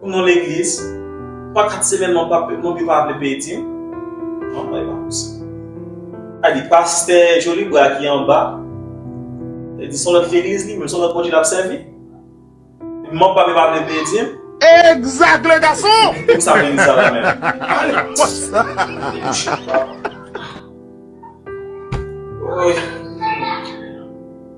Pou non legliz Mwen kat semèn mwen pa mwen pi pa vle peye dim non mwen pa posib a di pastè Joly Bra ki anba e di son lòt legliz li menm son lòt Bondye lap sèvi mwen pa pa vle peye dim Exact le garçon! Pou sa legliz sa la menm? Ale debouche papa. Woy.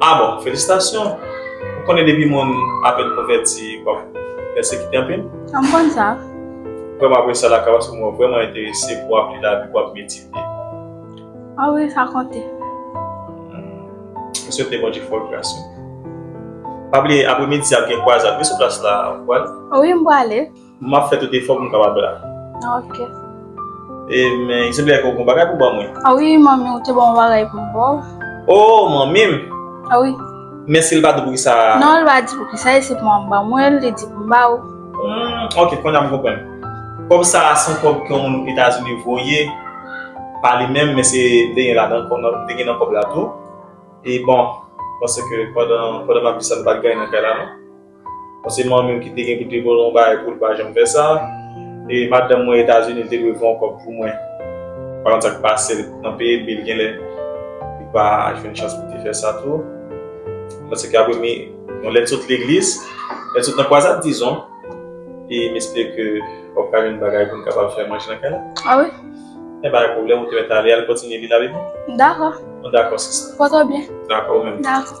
Ah bon felisitasyon ou konnen depi moun apèn konvèti wap pèsekite anpil? An m konn sa. Vrèman apresye lakay paske mwen vrèman enterese pou wap li lavi pou wap medite. Ah wi sa konte. M swete Bondye fè w gras wi. Pa bliye apremidi a ap gen kwazad wi sou plas la ou pral? Wi m prale. Map fè tout efò pou m kapab la. Ok. E men il senple fè w gon bagay pou ban mwen. Ah wi manmi ou te ban m yon bagay pou m ba w. Oh manmi m? Ah wi. Men si l pa di w poukisa? Non l pa di poukisa e se pou manman m ban mwen l, li di pou m ba w. Humm ok kounye a m konprann. Kòb sa a se yon kòb ke yon moun etazini voye pa li menm men se m te gen ladan kòb m te gen nan kòb la tou e bon paske pandan map di sa nou pat gen anyen nan kay la non. Bon se manmim ki te gen pou te bòl yon bagay poul pa janm fè sa e madanm mwen etazini li te dwe fè yon kòb pou mwen pa konn sak pasel nan peye bil genlè li pa jwenn chans pou te fè sa tou paske li ap remi yon lèt sot legliz lèt sot nan kwazad dizon e m espere ke wap ka jwenn bagay poun kapab fè manje nan kay la a wi e pa gen pwoblèm ou te mèt ale al kontinye vil la wi dako bon dako sista pòtò byen dako ou menm dako.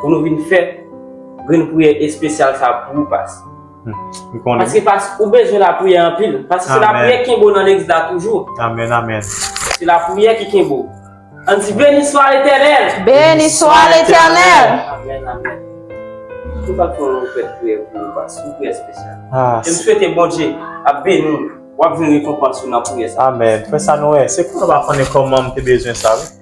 Pou nou vin fè grenn priyè espesyal sa pou ou pas. M konnen. Paske pas ou bezwen lapriyè anpil. Paske se lapriyè ki kenbe ou nan legliz la toujou. Amen amen. Se lapriyè ki kenbe ou. Ann di beniswa letènèl. Beniswa letènèl. Amen amen. Mwen pa konn nou fè priyè pou ou pas. Yon priyè espesyal. E m swete Bondye ap beni ou. Wap jwenn rekonpans ou nan priyè sa. Amen. Frè Sanuel, se pou nou pa konnen kòman m te bezwen sa wi.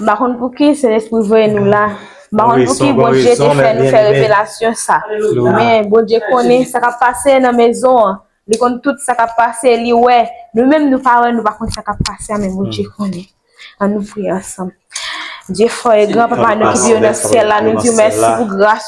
M pa konn pouki Sentespri voye nou la. M pa konn pouki Bondye te fè nou fè revelasyon sa. Men, Bondye konnen sa k ap pase nan mezon an. Li konn tout sa k ap pase. Li wè. Nou menm nou pa wè, nou pa konn sa k ap pase a men Bondye konnen. Annou priye ansanm. Dye fò e gran, Papa nou ki byen ou nan syèl la, nou di w mèsi pou gras ou.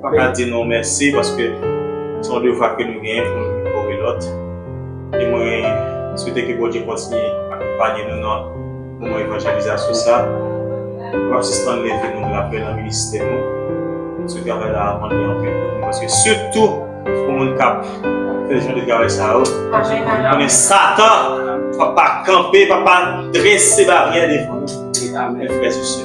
Pa ka di nou mèsi paske se yon devwa ke nou genyen pou nou kore lòt. E mwen swete ke Bondye kontinye akonpanye nou nan moman evanjelizasyon sa. Nou pap sispann leve nou lapriyè nan ministè nou. Se travay la ap mande anpil pou nou paske sitou pou moun k ap fè jan de travay sa yo, nou konnen Satan pap pa kanpe, pap pa drese baryè devan nou. Amen frè e sè.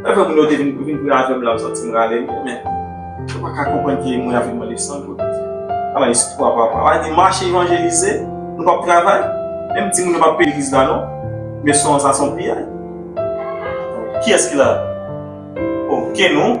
Mwen fè moun yo te vin pou vin pri avèm la, m santi m rale mwen men. Yo pa ka konprann ki moun ya vin mande san goud. Ala espwa papa. Ala di mache evanjelize, nou pap travay. Menm di moun yo pap peye legliz la non. Men son sa son piyay. Kiyès ki la? Okenn non.